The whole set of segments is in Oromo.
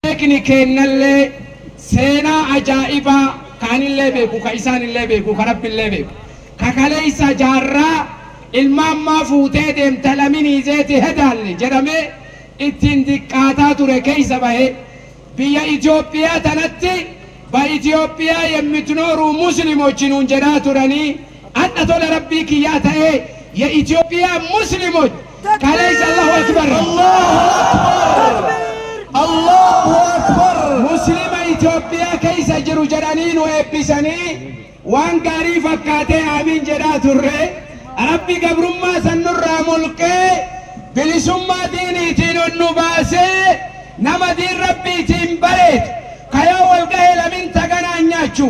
Beekni keennallee seenaa ajaa'ibaa ka anillee beeku, ka isaanillee beeku, ka Rabbillee beeku, ka kaleessa jaarraa ilma ammaa fuutee deemta laminii zeeti hedaalle jedhamee ittiin diqqaataa ture keessa bahee biyya Itoophiyaa tanatti Ba'Itoophiyaa yemmitnooruu Muslimochi nuun jedhaa turanii Hadha tola rabbii kiyyaa ta'ee ya Ethiopia muslimoch kaleessa Allahu Akbar Allahu Akbar Allahu Akbar Muslima Ethiopia keessa jiru jedhanii nu eebbisanii waan gaarii fakkaatee aamiin jedhaa turre rabbi gabrummaa san nurraa mulqee bilisummaa diiniitiin ol nu baasee nama diin rabbiitiin bareedu kayoo wal gahee lamin taganaa nyaachu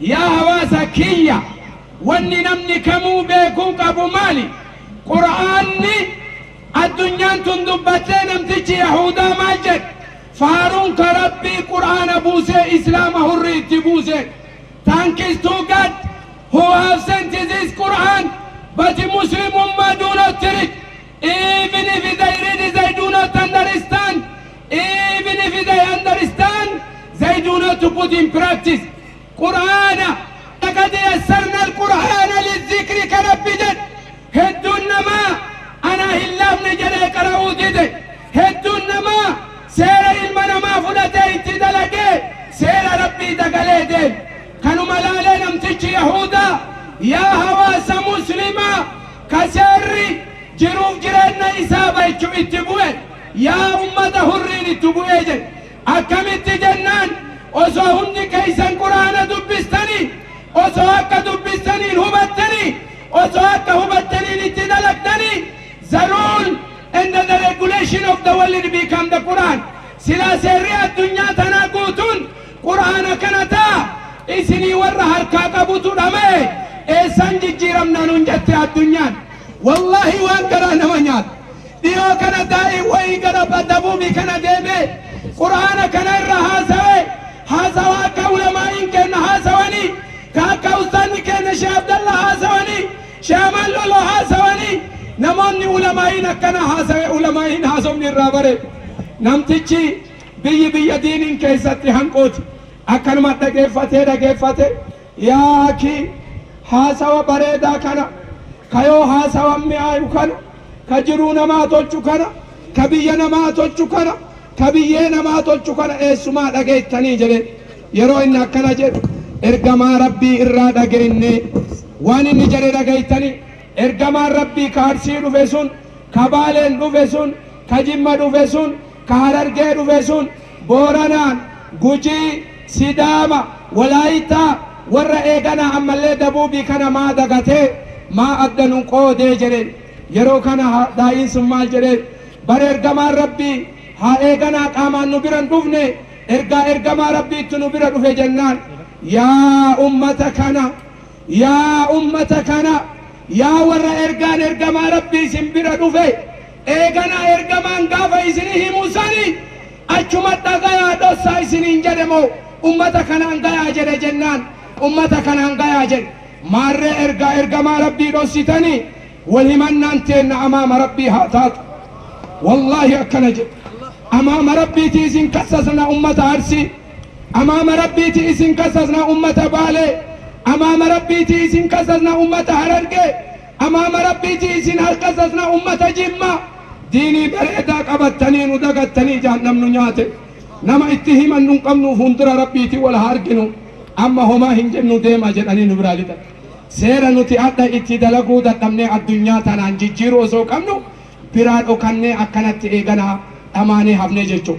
Yaa hawaasa kiyya! Wanni namni kamuu beekuu qabu maali? Qur'aanni addunyaan tun dubbattee namtichi Yahuudaa maal jedhe? Faaruun ka Rabbii Qur'aana buusee Islaama hurrii itti buuseedha. Thanks to God who have sent this Qur'aan but Muslimummaa do not treat. Even if they read they do not understand. Even if they understand they do not put in practice. Qur'aana laqad yassarna al-Qur'aana lizikri ka Rabbi jedhe hedduun namaa anaa hin laafne jedhee qara'uu dide. Hedduun namaa seera ilma namaa fudhatee itti dalagee seera Rabbii dagalee deeme. Kanuma laalee namtichi Yahuudaa yaa hawaasa muslimaa Ka seerri jiruuf jirenna isaa balchu itti bu'e yaa ummata hurriin ittu bu'ee jedhe. Akkamitti jennaan osoo hundi keessan qur'aana dubbistanii osoo akka dubbistaniin hubattanii osoo akka hubattaniin itti dalagdanii the rule and the regulation of the world become the Quran. Silaa seerri addunyaa tanaa guutuun Qur'aana kana taa isinii warra harkaa qabutu dhamaye eessaan jijjiiramnaa nuun jette addunyaan. Wallaahi waan garaa nama nyaatu. Dhiyoo kana daa'iin wayii gara Dabuubii kana deemee Qur'aana kana irra haasawe, haasawa akka ulamaa'iin keenna haasawanii, ka akka ustaazni keenna Shee Abdallaa haasawanii, Shee Amaan Loloo haasawanii, namoonni ulamaa'iin akkanaa haasawe ulamaa'iin haasofni irraa bareeddu. Namtichi Biyyi biyya diiniin keessatti hanquuti. Akkanuma dhageeffatee dhageeffatee yaa akii haasawa bareedaa kana ka yoo haasawan mi'aayu kana ka jiruu namaa tolchu kana ka biyya namaa tolchu kana ka biyyee namaa tolchu kana eessumaa dhageettanii jedhee yeroo inni akkana jedhu ergamaa rabbii irraa dhageennee waan inni jedhe dhageettanii ergamaan rabbii ka arsii dhufe sun ka baaleen dhufe sun Ka Jimma dhufe sun, ka Harargee dhufe sun, Booranaan, Gujii, Sidaama, Walaayittaa, warra eeganaa ammallee Dabuubii kana maa dagatee, maa adda nu qoodee jedheen. Yeroo kana Daa'iin sun maal jedheen? Bar Ergamaan Rabbii haa eeganaa qaamaan nu bira hin dhufne, ergaa Ergamaa Rabbiittu nu bira dhufe jennaan. Yaa ummata kana! Yaa ummata kana! Yaa warra ergaan Ergamaa Rabbii isin bira dhufe! Eeganaa ergamaan gaafa isinii himu sani achuma dhagayaa dhossaa isiniin jedhe moo ummata kanaan gayaa jedhe jennaan ummata kanaan gayaa jedhe maarree ergaa ergamaa rabbii dhossitanii wal himannaan teenna amaama rabbii haa taatu wallaahi akkana jedhe amaama rabbiiti isin kassasna ummata arsii amaama rabbiiti isin kassasna ummata baalee amaama rabbiiti isin kassasna ummata harargee Amaama rabbii ji isin harka sasna ummata jimma diinii bareedaa qabattanii nu dagattanii jaannam nu nyaate nama itti himannu hin qabnu fuundura rabbiiti wal haa arginu amma homaa hin jennu deema jedhanii nu biraa lixan seera nuti adha itti dalaguu dadhabnee addunyaa tanaan jijjiiru osoo qabnu biraa dhokannee akkanatti eeganaa dhamaanee hafnee jechuu